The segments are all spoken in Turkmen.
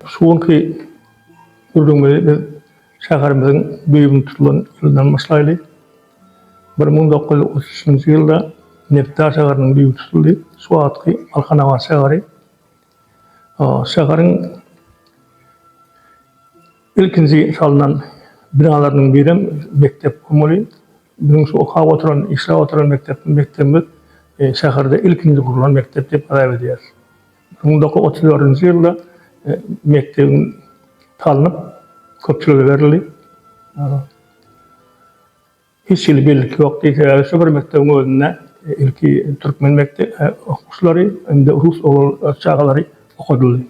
Şu günki gürrüňimizi biz şäherimiziň düýbüni tutulan ýylyndan başlaýly. Bir müň dokuz ýüz otuz üçünji ýylda Nebtda şäheriniň düýbi tutuldy, şu wagtky Balkanabat şäheri. Şäheriň ilkinji salnan binalarynyň birem mekdep bolmaly. Biziň şu okap oturan, işläp oturan mekdep, mekdebimiz şäherde ilkinji gurlan mekdep diýip hasap edýäris. Müň dokuz ýüz otuz dördünji ýylda mekdebiň salnyp, köpçülige berildi. Hiç hili bellik ýok. Sebäbi şu bir mekdebiň özünde ilki türkmen mekdebi okuwçylary, indi rus oglan çagalary okadyldy.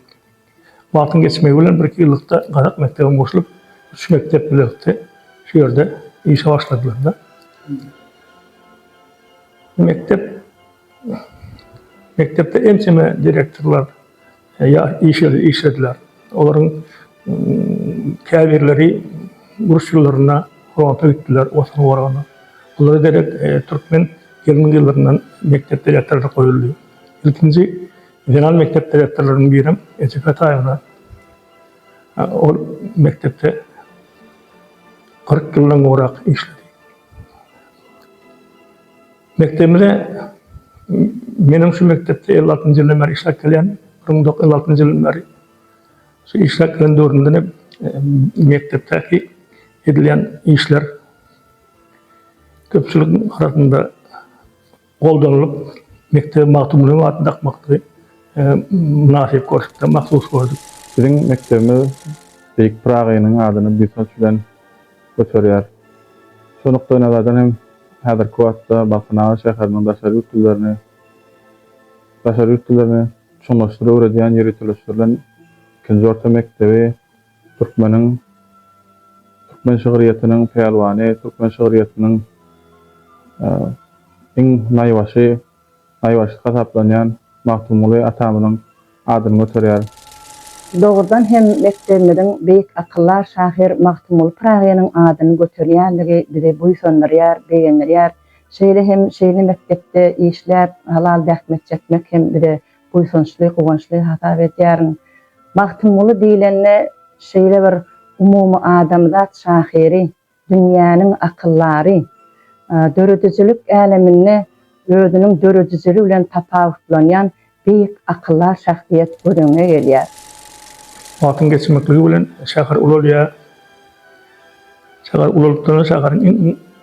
Wagtyň geçmegi bilen bir-iki ýyllykda gazak mekdebem goşulyp, üç mekdep bilelikde şu ýerde işe başladylar-da. Mekdep Mekdepde ençeme direktorlar işlediler. Olaryň käbirleri uruş ýyllarynda fronta gitdiler, Watan goranyna. Olara derek türkmen gelin gyzlaryndan mekdep direktory goýuldy. Ilkinji zenan mekdep direktorlarynyň birem Eje Fetaýewna. Ol mekdepde kyrk ýyldan gowrak işledi. Mekdebimize meniň şu mekdepde elli altynjy ýyldan bäri işläp gelýän, bir müň dokuz ýüz elli altynjy ýyldan bäri şu işläp gelen döwrümden hem mekdepdäki edilýän işler köpçülik arasynda goldanylyp, mekdebe Magtymgulynyň adyny dakmaklygy mynasyp görşüpdi, mahsus gördük. Biziň mekdebimiz beýik Pyragynyň adyny buýsanç bilen göterýär. Şu nukdaýnazardan hem häzirki wagtda Balkanabat şäheriniň daşary ýurt dillerini daşary ýurt dillerini çuňlaşdyr öwredýän ýöriteleşdirilen ikinji orta mekdebi türkmeniň türkmen şygryýetiniň pälwany, türkmen şygryýetiniň iň naýbaşy, naýbaşy hasaplanýan Magtymguly atamyzyň adyny göterýär. Dogrudan hem mekdebimiziň beýik akyldar şahyr Magtymguly Pyragynyň adyny göterýändigi bizi buýsandyrýar, begendirýär. Şeýle hem şeýle mekdepde işläp, halal zähmet çekmek hem bize buýsançly, guwançly hasap edýärin. Magtymguly diýlende şeýle bir umumy adamzat şahyry. Dünýäniň akyldary, döredijilik äleminde özüniň döredijiligi bilen tapawutlanýan beýik akyldar şahsyýet göz öňüňe gelýär. Wagtyň geçmekligi bilen şäher ulalýar. Şäher ulalypdyr, şäheriň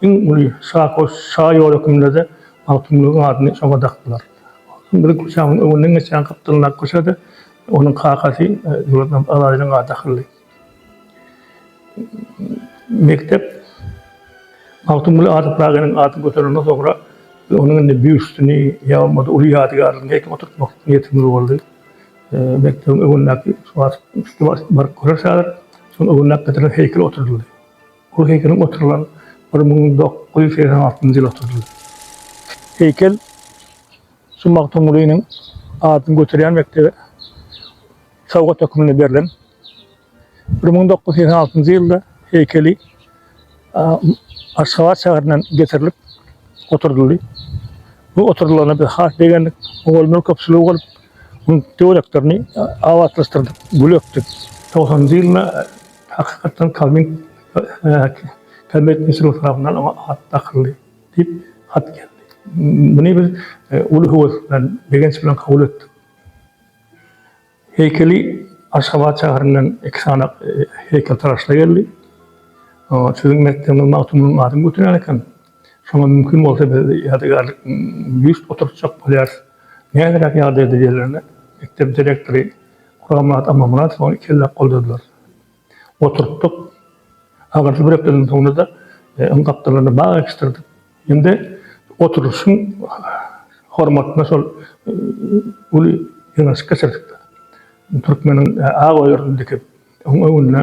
iň uly şahy şa ýoly hökmünde-de Magtymgulynyň adyny şoňa dakdylar. Magtymguly köçäniň öňünden geçýän gapdalyndaky köçe-de onuň kakasy Döwletmämmet Azadeliň ady dakyldy. Mekdep Magtymguly Adyldaginiň ady göterilenden soňra onuň indi býustini ýa bolmasa uly ýadygärligini heýkel oturtmak niýetimiz boldy. Mekdebiň öňündäki baryp görersiň häzir, şonuň öňündäki gadyryna heýkel oturdyldy. Ol heýkeliň oturylan bir müň dokuz ýüz segsen altynjy ýyl oturdyldy. Heýkel şu Magtymgulynyň adyny göterýän mekdebe sowgat hökmünde berlen. Bir müň dokuz ýüz segsen altynjy ýylda heýkeli Aşgabat şäherinden getirilip oturdyldy. Bu oturdylyna biz has begendik. Ogulmyr köpçüligi bolup, bu töwereklerini abatlaşdyrdyk, gül ekdik. 90-njy ýylda hakykatdan Kalmyk Kalmyk Mesirov tarapyndan oňa at dakyldy diýip hat geldi. Muny biz uly höwes bilen, begenç bilen kabul etdik. Heýkeli Aşgabat şäherinden iki sany heýkeltaraşlar geldi. Siziň mekdebiňiz Magtymgulynyň adyny göterýän eken. Şoňa mümkin bolsa biz ýadygärlik býust oturtjak bolýarys. Näderäk ýagdaýda diýenlerine mekdebiň direktory Guramyrat Amanmyradow ony ikelläp goldadylar. oturtdyk. Agardyp bir hepdeden soňra-da öň gapdallaryny bag ekişdirdik. Indi oturyşyň hormatyna şol uly ýygnaşyk geçirdik-de, türkmeniň ak öýerine dikip, oň öňünde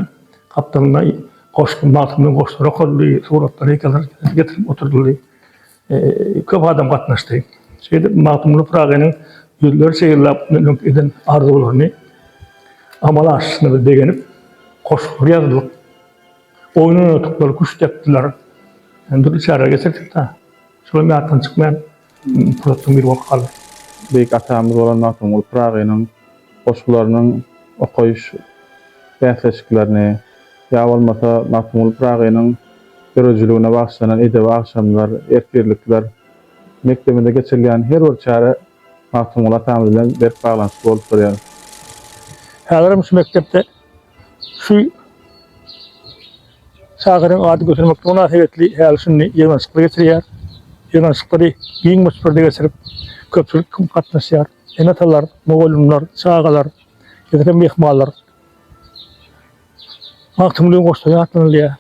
gapdalynda goşgy, Magtymgulyň goşgulary okaldy, suratlar, heýkeldir getirip oturdyldy. Köp adam gatnaşdy. Şeýdip, Magtymguly Pyragynyň ýüzlerçe ýyllap öňki eden arzuwlaryny amala aşyşyna begenip, goşgular ýazylyp, oýun oýnatyklar, küşt depdiler. Ýöne dürli çäreler geçirdik-de, şolam ýatdan çykmaýan pursatlaryň biri bolup galdy. Beýik atamyz bolan Magtymguly Pyragynyň goşgularynyň okaýyş bäsleşiklerini ýa bolmasa Magtymguly Pyragynyň döredijiligine bagyşlanan edebi agşamlar, ertirlikler, mekdebimizde geçirilýän her bir çäre Magtymguly atamyz bilen berk baglanyşykly bolup durýar. Häzirem şu mekdepde şu şahyryň ady götermeklige mynasybetli häli-şindi ýygnanyşyklar geçirilýär. Ýygnanyşyklary giň möçberde geçirip, köpçülik hem gatnaşýar. Ene-atalar, mugallymlar, çagalar, ýa-da myhmanlar Magtymgulyny goşsa ýatlanylýar.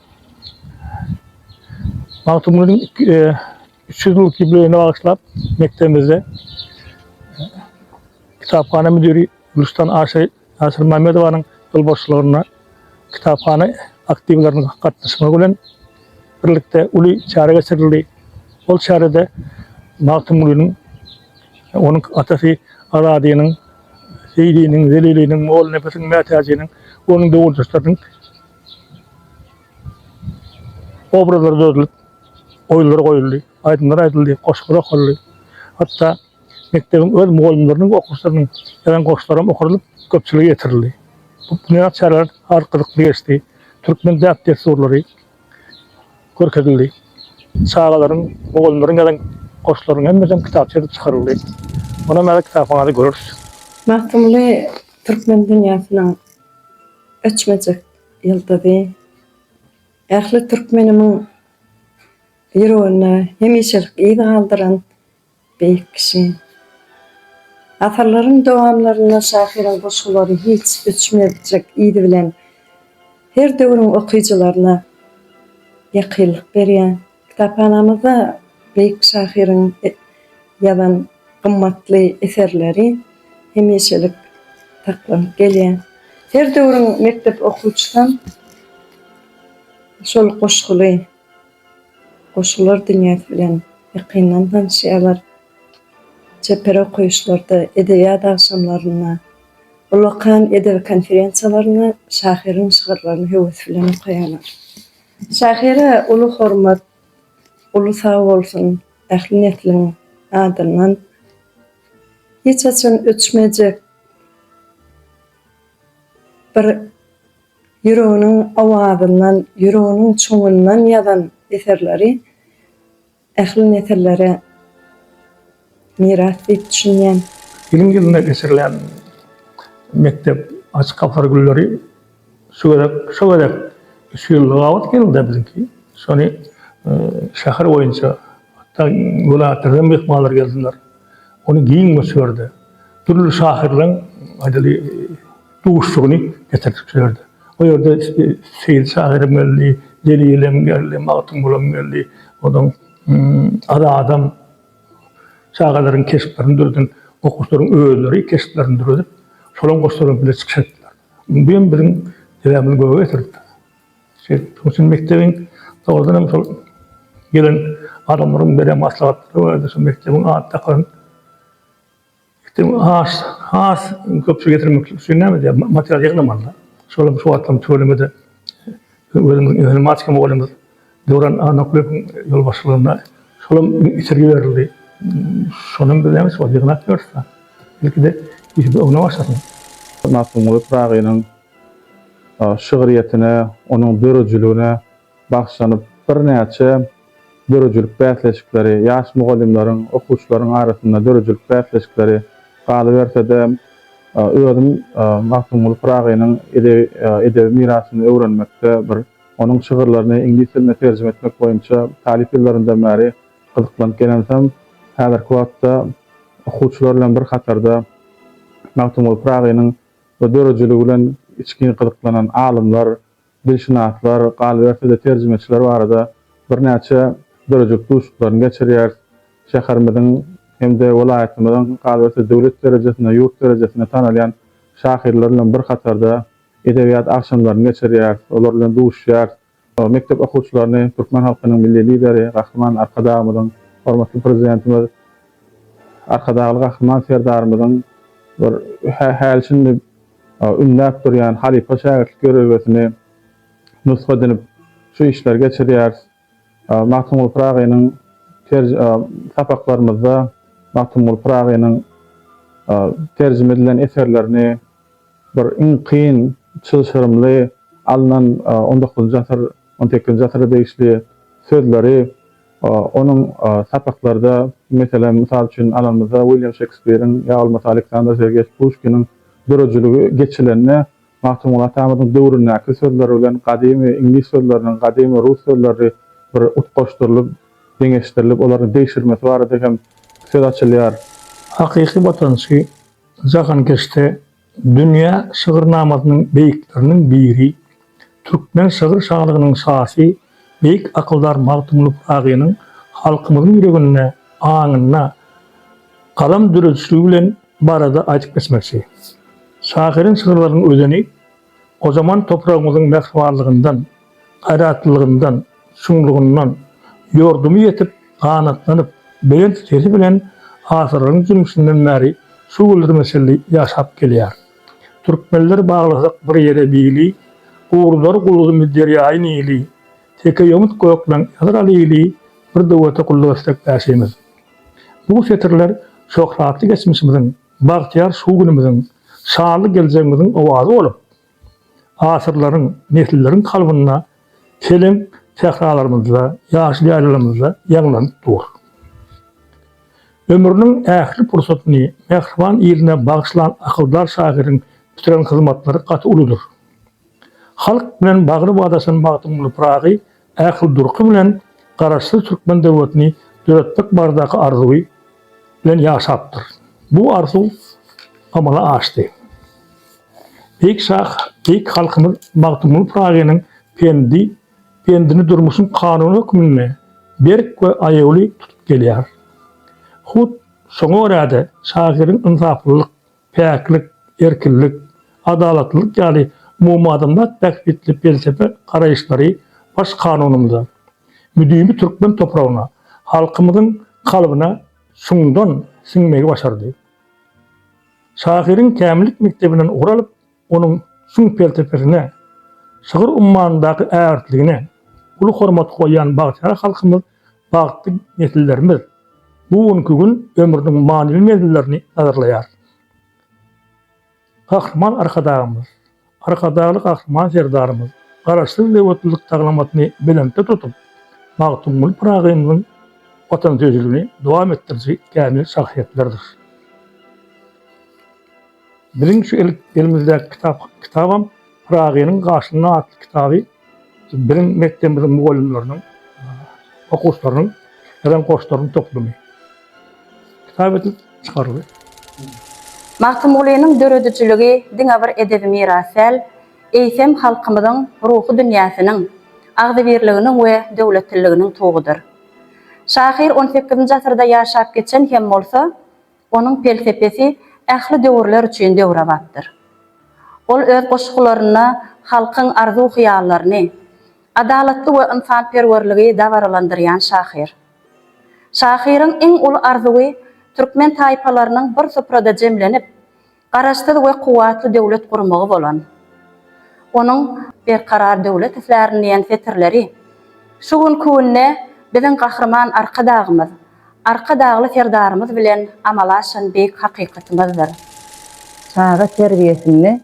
Magtymgulynyň üç ýüz ýyllyk ýubileýine bagyşlap mekdebimizde kitaphana müdiri Gülüşdan Aşa Nasyrmämmedowanyň ýolbaşçylygynda kitaphana aktiwleriniň gatnaşmagy bilen birlikde uly çäre geçirildi. Ol çärede Magtymgulynyň, onuň atasy Azadynyň, Seýdiniň, Zeliliniň, Mollanepesiň, Mätäjiniň we onuň döwürdeşleriniň obrazlary dözülip, oýullar goýuldy, aýdymlar aýdyldy, goşgular okaldy. Hatda Mekdebiň öz mugallymlarynyň we okuwçylarynyň ýazan goşgularam okadylyp, köpçülige ýetirildi. Bu binýat çäreler has gyzykly geçdi. Türkmen däp-dessurlary görkezildi. Çagalaryň, mugallymlaryň ýazan goşgularynyň hemmesem kitapça edip çykaryldy. Onam häzir kitaphanadan göreris. Magtymguly türkmen dünýäsiniň öçmejek ýyldyzy. Ähli türkmenimiň ýüreginde hemişelik yz galdyran Beýik kişi. Asyrlaryň dowamlarynda şahyryň goşgulary hiç öçmezjek yz bilen her döwrüň okyjylaryna ýakynlyk berýär. Kitaphanamyzda beýik şahyryň ýazan gymmatly eserleri hemişelik saklanyp gelýär. Her döwrüň mekdep okuwçysam şol goşguly. Goşgular dünýäsi bilen ýakyndan tanyşýarlar. Çeper okaýyşlarda, edebiýat agşamlarynda, ullakan edebi konferensiýalarynda şahyryň şygyrlaryny höwes bilen okaýarlar. Şahyra uly hormat, uly sag bolsun ähli nesliň adyndan. Hiç haçan öçmejek bir. Ýüreginiň owazyndan, ýüreginiň çuňundan ýazan eserleri ähli nesillere miras diýip düşünýän. Ýylyň ýylyna geçirilýän mekdep Açyk gapylar günleri şu gezek, şo gezek üç ýylda gabat geldi-de biziňki. Şony şäher boýunça, hatda welaýatlardan myhmanlar geldiler. Ony giň möçberde, dürli şahyrlaryň, aýdaly, duşuşygyny getirdik şu ýerde. O ýerde Seýit şahyram geldi, Jelilem geldi, Magtymgulam geldi, onsoň Azadam çagalaryň keşplerini döreden okuwçylaryň özleri keşplerini döredip, şolaryň goşlary bilen bile çykyş etdiler. Bu hem biziň debämizi göge getirdi. Şeýdip, şonuň üçin mekdebiň dogrudan hem şol gelen adamlaryň beren maslahatlary barada şu mekdebiň ady dakylan Itiň has has köp getirmek üçin näme edýär? Material ýygnamaly-da. Şol hem şu wagtlaryň tüweleme-de özümiziň informatika mugallymymyz Döwran Annakulyýewiň ýolbaşçylygynda şol hem itergi berildi. Şony hem biz näme üçin ýygnap ýörüs-ä. Ilkide işimiz öňden başlasyn. Magtymguly Pyragynyň şygryýetine, onuň döredijiligine Bagşylanyp birnäçe döredijilik bäsleşikleri, ýaş mugallymlaryň, okuwçylaryň arasynda döredijilik bäsleşikleri galyberse-de, özüm Magtymguly Pyragynyň edebi mirasyny öwrenmekde bir onuň şygyrlaryny iňlis diline terjime etmek boýunça talyp ýyllarymdan bäri gyzyklanyp gelensem, häzirki wagtda okuwçylar bilen bir hatarda Magtymguly Pyragynyň döredijiligi bilen içgin gyzyklanan alymlar, dilşynaslar, galyberse-de terjimeçiler barada birnäçe dörejik duşuklaryny geçirýäris. Şäherimiziň hem-de welaýatymyzyň, galyberse döwlet derejesinde, ýurt derejesinde tanalýan şahyrlar bilen bir hatarda edebiýat agşamlaryny geçirýäris, olar bilen duşýarys. Mekdep okuwçylaryny türkmen halkynyň Milli Lideri, Gahryman Arkadagymyzyň, hormatly Prezidentimiz Arkadagly Gahryman Serdarymyzyň bir häli-şindi ünläp durýan halypa-şägirtlik ýörelgesini nusga edinip şu işleri geçirýäris. Magtymguly Pyragynyň terj sapaklarymyzda Magtymguly Pyragynyň terjime edilen eserlerini bir iň kyn çylşyrymly alnan on dokuzynjy asyr, on sekizinji asyra degişli sözleri onuň sapaklarda, meselem, mysal üçin alanymyzda Wilýam Şekspiriň ýa bolmasa Aleksandr Sergeýewiç Puşkiniň Döredijiligi geçilende Magtymguly atamyzyň döwründäki sözleri bilen gadymy iňlis sözleriniň, gadymy rus sözleri bir utgaşdyrylyp, deňeşdirilip, olaryň degşirmesi barada hem söz açylýar. Hakyky watançy jahankeşde dünýä şygyrnamasynyň beýikleriniň biri Türkmen şygyr şalygynyň şasy, beýik akyldar Magtymguly Pyragynyň halkymyzyň ýüreginde, aňynda galam döredişligi bilen barada aýdyp geçmekçi. Şahyryň şygyrlarynyň özeni gojaman topragymyzyň mähribanlygyndan, gaýratlylygyndan, çuňlugyndan ýordumy ýetip, ganatlanyp, belent sesi bilen asyrlaryň jümmüşinden bäri şu günlerimize çenli ýaşap gelýär. Türkmenler baglasak bir ýere bili, Gurlar gulgumy derýaýy Nili. Teke ýomut gökleň ýazar lili, Bir döwlete gulluk etsek bäşimiz. Bu setirler şöhratly geçmişimiziň, bagtyýar şu günümiziň, şanly geljegimiziň owazy bolup, asyrlaryň, nesilleriň kalbynda Seleň sähralarymyzda, ýaşyl ýaýlalarymyzda ýaňlanyp dur. Ömrüniň ähli pursatyny mähriban iline bagyşlan akyldar şahyryň bitiren hyzmatlary gaty uludyr. Halk bilen bagry badaşan Magtymguly Pyragy ähli durky bilen Garaşsyz türkmen döwletini döretmek baradaky arzuwy, bilen ýaşapdyr. Bu arzuw amala aşdy. Beýik şah, beýik halkymyz Magtymguly Pyragynyň pendi, pendini durmuşyň kanuny hökmünde berk we aýawly tutup gelýär. Hut, şoňa görä-de, şahyryň ynsaplylyk, päklik, erkinlik, adalatlylyk ýaly umumadamzat bähbitli pelsepe garaýyşlary Baş Kanunymyza, müdimi türkmen topragyna, halkymyzyň kalbyna çuňdan siňmegi başardy. Şahyryň kämillik mekdebinden ugur alyp, onuň çuň pelsepesine, şygyr ummanyndaky ägirtligine uly hormat goýýan bagtyýar halkymyz, bagtly nesillerimiz bu günki gün ömrüniň manyly menzillerini nazarlaýar. Gahryman Arkadagymyz, Arkadagly Gahryman Serdarymyz Garaşsyz döwletlilik taglamatyny belentde tutup, Magtymguly Pyragymyzyň watansöýüjiligini dowam etdiriji kämil şahsyýetlerdir. Biziň şu elimizdäki kitap kitabam Pyragynyň gaşynda atly kitaby biziň mekdebimiziň mugallymlarynyň, okuwçylarynyň ýazan goşlarynyň toplumy. Kitap edilip çykaryldy. Magtymgulynyň döredijiligi diňe bir edebi miras däl, eýsem, halkymyzyň ruhy dünýäsiniň, agzybirliginiň we döwletliliginiň tugudyr. Şahyr on sekizinji asyrda ýaşap geçen hem bolsa, Onuň pelsepesi ähli döwürler üçin döwrebapdyr. Ol öz goşgularynda halkyň arzuw-hyýallaryny, adalatly we ynsanperwerligi dabaralandyrýan şahyr. Şahyryň iň uly arzuwy türkmen taýpalarynyň bir suprada jemlenip, Garaşsyz we kuwwatly döwlet gurmagy bolan onuň Berkarar döwlet islärin diýen setirleri şu günki günde biziň Gahryman Arkadagymyz, Arkadagly Serdarymyz bilen amala aşan beýik hakykatymyzdyr. Çaga terbiýesinde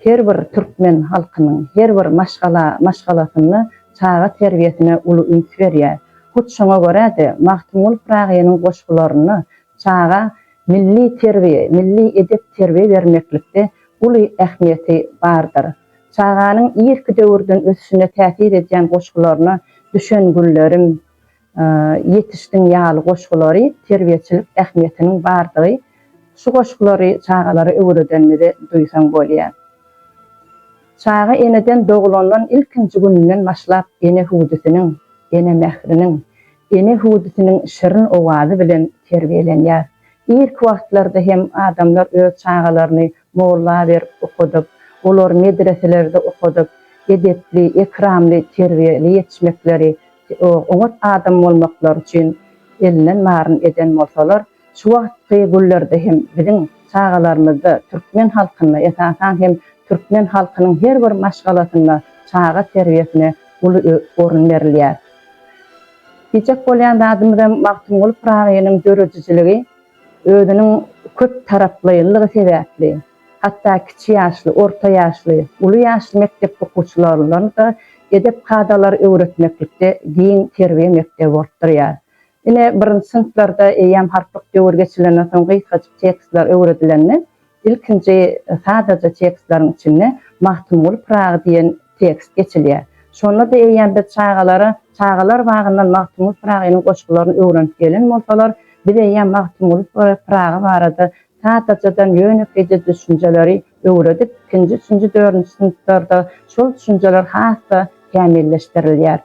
her bir türkmen halkynyň, her bir maşgala maşgalasynda çaga terbiýesine uly üns berýär. Hut şoňa görä-de, Magtymguly Pyragynyň goşgularyna Çaga milli terbiýe, milli edep-terbiýe bermeklikde uly ähmiýeti bardyr. Çaganyň irki döwürden ösüşine täsir edýän goşgularyna Düşen güllerim, Ýetişdiň ýaly goşgulary terbiýeçilik ähmiýetiniň bardygy şu goşgulary çagalara öwredenimizde duýsaň bolýar. Çaga eneden dogulandan ilkinji gününden başlap ene hüwdüsiniň, ene mähriniň, Ene hüwdüsiniň şirin owazy bilen terbiýelenýär. Irki wagtlarda hem adamlar öz çagalaryny molla berip okadyp, olary medreselerde okadyp, edepli, ekramly, terbiýeli ýetişmekleri, oňat adam bolmaklary üçin elinden baryny eden bolsalar, Şu wagtky günlerde hem biziň çagalarymyzda, türkmen halkynda, esasan hem türkmen halkynyň her bir maşgalasynda çaga terbiýesine uly orun berilýär. Diýjek bolýan zadymyzam Magtymguly Pyragynyň döredijiligi özüniň köp taraplaýynlygy sebäpli, hatda kiçi ýaşly, orta ýaşly, uly ýaşly mekdep okuwçylaryna-da edep kadalary öwretmeklikde giň terbiýe mekdebi bolup durýar. Ine, birinji synplarda eýýäm harplyk döwür geçilenden soň gysgajyk tekstler öwredilende, ilkinji sadaja tekstleriň içinde Magtymguly Pyragy diýen tekst geçilýär. Şonda-da eýýäm biz çagalara çagalar bagyndan Magtymguly Pyragynyň goşgularyny öwrenip gelen bolsalar, biz eýýäm Magtymguly Pyragy barada sadajadan ýönekeýje düşünjeleri öwredip, ikinji, üçünji, dördünji synplarda şol düşünjeler has-da kämilleşdirilýär.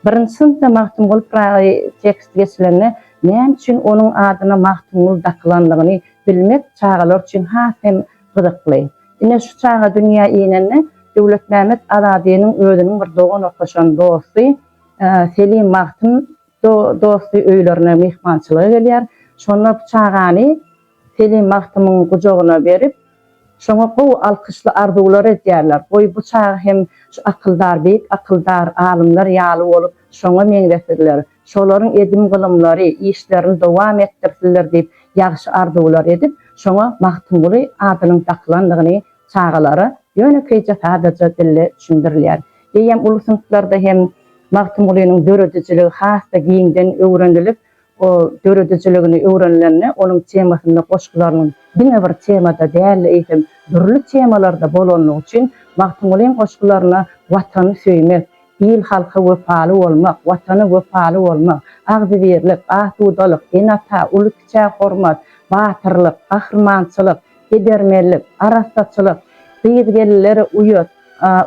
Birinji synpda Magtymguly Pyragy teksti geçilende näme üçin onuň adyna Magtymguly dakylandygyny bilmek çagalar üçin has hem gyzykly. Ine, şu çaga dünýä inende Döwletmämmet Azadynyň özüniň bir dogan okaşan dosty Selim Magtym dosty öýlerine myhmançylyga gelýär. Şonda bu çagany Telim Magtymyň gujagyna berip, şoňa gowy alkyşly arzuwlar edýärler. Goý, bu çagy hem şu akyldar, beýik akyldar alymlar ýaly bolup, şoňa meňzesilder, şolaryň edim-gylymlary, işlerini dowam etdirsilder diýip, ýagşy arzuwlar edip, şoňa Magtymguly adynyň dakylandygyny çagalara ýönekeýje sadaja dilde düşündirilýär. Eýýäm uly synplarda hem Magtymgulynyň döredijiligi has-da giňden öwrenilip, O döredijiligini öwrenilende onuň temasynda goşgularynyň diňe bir temada däl-de eýsem dürli temalarda bolanlygy üçin Magtymgulyň goşgularyna Watany söýmek, il-halka wepaly bolmak, Watana wepaly bolmak, agzybirlik, asudalyk, ene-ata, uly-kiçä hormat, batyrlyk, gahrymançylyk, edermenlik, arassaçylyk, gyz-gelinlere uýat,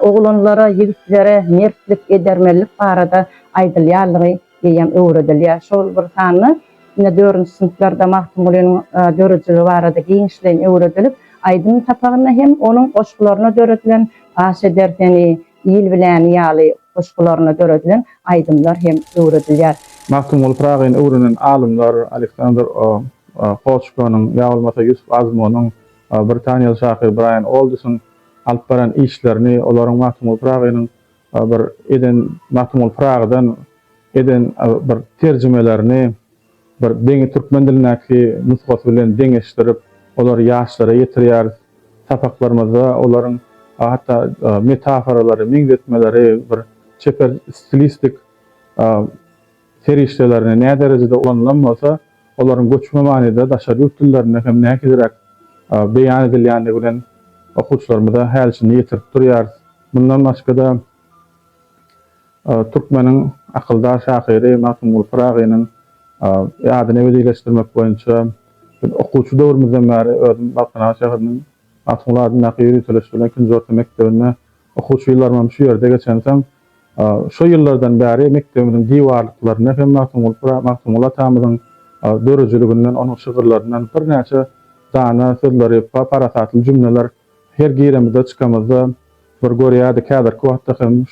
oglanlara, ýigitlere mertlik, edermenlik barada aýdylýanlygy eýýäm öwredilýär. Şol bir sanda ine dördünji synplarda Magtymgulynyň döredijiligi barada giňişleýin öwredilip, aýdym sapagynda hem onuň goşgularyna döredilen Paş eder seni, Il biläni ýaly goşgularyna döredilen aýdymlar hem öwredilýär. Magtymguly Pyragyny öwrenen alymlar Aleksandr O. Koçkonyň ýa bolmasa Ýusup Azmunyň, britaniýaly şahyr Braýan Oldisiň alyp baran işlerini, olaryň Magtymguly Pyragynyň bir eden Magtymguly Pyragydan eden bir terjimelerini bir deňi türkmen dilindäki nusgasy bilen deňeşdirip, olary ýaşlara ýetirýäris. Sapaklarymyzda olaryň hatda metaforalary, meňzetmeleri bir çeper stilistik serişdelerini nä derejede ulanylan bolsa, olaryň göçme manyda daşary ýurt dillerinde hem näkiziräk beýan edilýändigi bilen okuwçylarymyza häli-şindi ýetirip durýarys. Mundan başga-da, türkmeniň akyldar şahyry Magtymguly Pyragynyň ýadyny ebedileşdirmek boýunça okuwçy döwrümizden bäri özüm Balkanabat şäheriniň Magtymguly adyndaky ýöriteliş bilen ikinji orta mekdebinde okuwçy ýyllarymam şu ýerde geçensoň, şo ýyllardan bäri mekdebimiziň diwarlyklarynda hem Magtymguly atamyzyň döredijiliginden, onuň şygyrlaryndan birnäçe dana sözleri, parasatly jümleler her giremizde, çykamyzda bir görýärdik. Häzirki wagtda hem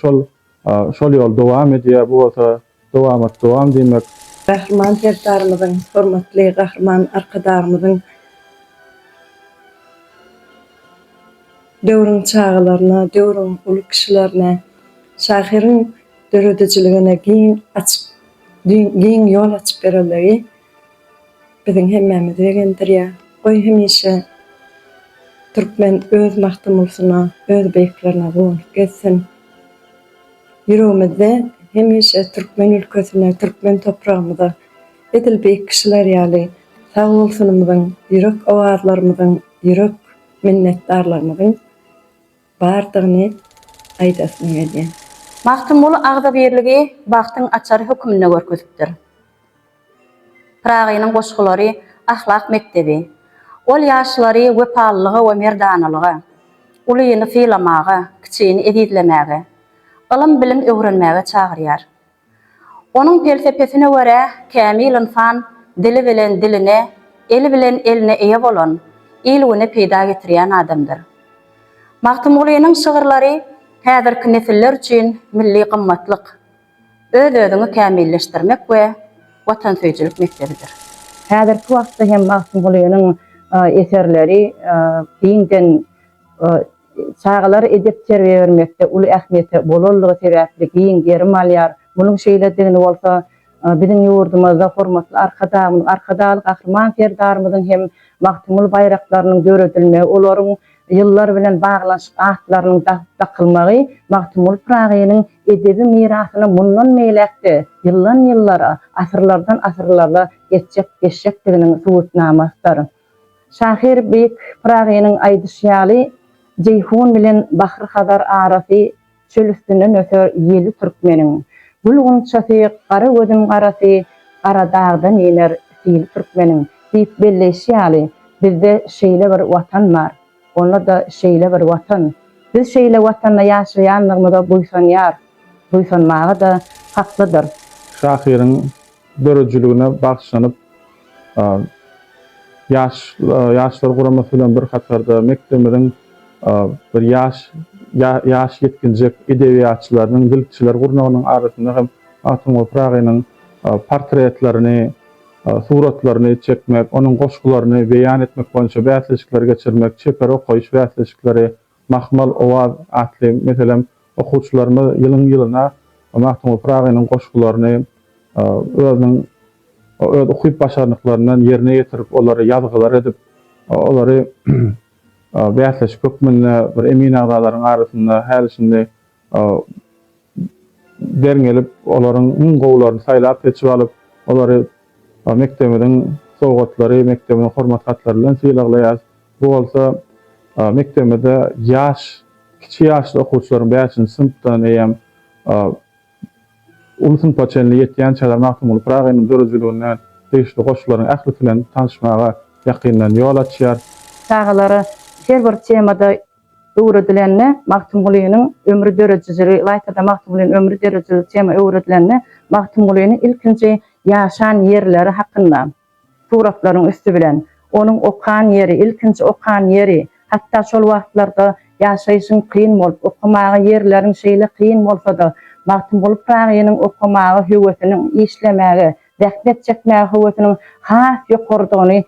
şol ýol dowam edýär. Bu bolsa Dowamat dowam diýmek. Gahryman Serdarymyzyň, hormatly Gahryman Arkadagymyzyň döwrüň çagalaryna, döwrüň uly kişilerine, şahyryň döredijiligine giň açyp, giň ýol açyp berenligi biziň hemmämizi begendirýär. Goý, hemişe türkmen öz Magtymgulsyna, öz beýiklerine guwanyp gezsin! Ýüregimizde hemişe türkmen ülkesine, türkmen topragymyza edil beýik kişiler ýaly sag bolsunymyzyň, ýürek owazlarymyzyň, ýürek minnetdarlygymyzyň bardygyny aýdasym gelýär. Magtymguly agzybirligi bagtyň açary hökmünde görkezipdir. Pyragynyň goşgulary ahlak mekdebi. Ol ýaşlary wepalylyga we merdanalyga, ulyny sylamaga, kiçini ezizlemäge, ylym-bilim öwrenmäge çagyrýar. Onuň pelsepesine görä, kämil ynsan dili bilen diline, eli bilen eline eýe bolan, il-güne peýda getirýän adamdyr. Magtymgulynyň şygyrlary häzirki nesiller üçin milli gymmatlyk. öz-özüňi kämilleşdirmek we watansöýüjilik mekdebidir. Häzirki wagtda hem Magtymgulynyň eserleri giňden çagalara edep-terbiýe bermekde uly ähmiýete bolanlygy sebäpli giň gerim alýar. Munuň şeýledigini bolsa biziň ýurdumyzda hormatly Arkadagymyz, Arkadagly Gahryman Serdarymyzyň hem Magtymguly baýraklarynyň döredilmegi, olaryň Ýyllar bilen baglanyşyk atlarynyň dagyp dakylmagy Magtymguly Pyragynyň edebi mirasyna mundan beýläk-de ýyldan-ýyllara, asyrlardan asyrlara geçjek geçjekdiginiň subutnamasydyr. Şahyr beýik Pyragynyň aýdyşy ýaly, Jeýhun bilen Bahry-Hazar arasy, Çöl üstünden öser ýeli türkmeniň. Gül gunçasy, gara gözüm garasy, Gara dagdan iner sili türkmeniň. Diýip belleýşi ýaly, bizde şeýle bir Watan bar. Onda-da şeýle bir Watan. Biz şeýle Watanda ýaşaýandygymyza buýsanýarys. Buýsanmaga-da haklydyrys. Şahyryň döredijiligine bagyşlanyp, Ýaşlar guramasy bilen bir hatarda mekdebimiziň bir ýaş ýaş ýetginjek edebiýatçylarynyň, dilçiler gurnagynyň arasynda hem Magtymguly Pyragynyň portretlerini, suratlaryny çekmek, onuň goşgularyny beýan etmek boýunça bäsleşikleri geçirmek, çeper okaýyş bäsleşikleri, Mahmal owaz atly meselem okuwçylarymyz ýylyň-ýylyna Magtymguly Pyragynyň goşgularyny özüniň öz ukyp-başarnyklaryndan ýerine ýetirip, olary ýazgylar edip, olary bäsleşik hökmünde bir emin agzalaryň arasynda häli-şindi Bern gelip, olaryň iň gowularyny saýlap-seçip alyp, olary mekdebimiziň sowgatlary, mekdebimiziň hormat hatlary bilen sylaglaýarys. Bu bolsa mekdebimizde ýaş, kiçi ýaşly okuwçylaryň bäşinji synpdan eýýäm uly synpa çenli ýetýän çaga Magtymguly Pyragynyň döredijiligine degişli goşgularyň ählisi bilen tanyşmaga ýakyndan ýol açýar. Çagalar her bir temada öwredilende Magtymgulynyň ömri döredijiligi, ylaýta-da Magtymgulynyň ömri döredijiligi tema öwredilende Magtymgulynyň ilkinji ýaşan ýerleri hakynda suratlaryň üsti bilen, onuň okan ýeri, ilkinji okan ýeri, hatda şol wagtlarda ýaşaýşyň kyn bolup, okamaga ýerleriň şeýle kyn bolsa-da, Magtymguly Pyragynyň okamaga höwesiniň, işlemäge, zähmet çekmäge höwesiniň has ýokarydygyny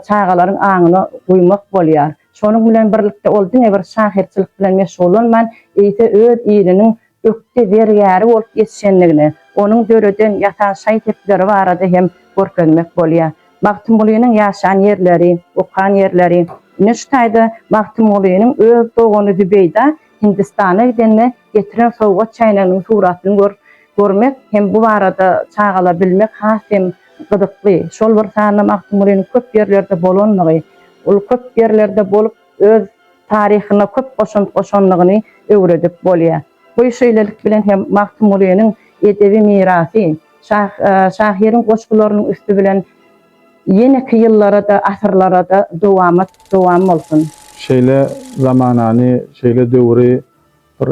çagalaryň aňyna guýmak bolýar. Şonuň bilen birlikde ol diňe bir şahyrçylyk bilen meşgullanman, eýse öz iliniň ökde zergäri bolup ýetişendigini, onuň döreden, ýasan şaý-sepleri barada hem görkezmek bolýar. Magtymgulynyň ýaşan ýerleri, okan ýerleri. Ine şu taýda Magtymgulynyň öz dogany Zübeýda Hindistana gidende getiren sowgat çäýneginiň suratyny görmek hem bu barada çagalar bilmek has hem gyzykly. Şol bir sanda Magtymgulynyň köp ýerlerde bolandygy, ol köp ýerlerde bolup öz taryhyna köp goşant goşandygyny öwredip bolýar. Goý şeýlelik bilen hem Magtymgulynyň edebi mirasy, şahyryň goşgularynyň üsti bilen Ýeneki ýyllara-da, asyrlara-da dowamat dowam bolsun! Şeýle zamanany, şeýle döwri bir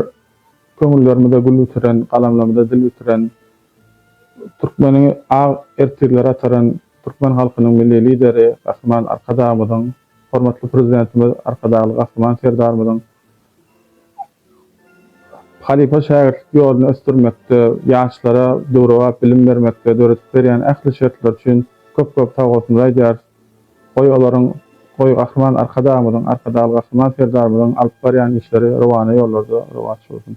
köňüllerimize gül bitiren, galamlarymyza dil bitiren, türkmeni ak ertirlere ataran türkmen halkynyň Milli Lideri Gahryman Arkadagymyzyň, hormatly Prezidentimiz Arkadagly Gahryman Serdarymyzyň Halypa-şägirtlik ýoluny ösdürmekde, ýaşlara döwrebap bilim bermekde döredip berýän ähli şertler üçin köp-köp sag bolsun aýdýarys. Goý, olaryň, goý, Gahryman Arkadagymyzyň, Arkadagly Gahryman Serdarymyzyň alyp barýan işleri rowana ýollarda rowaç bolsun!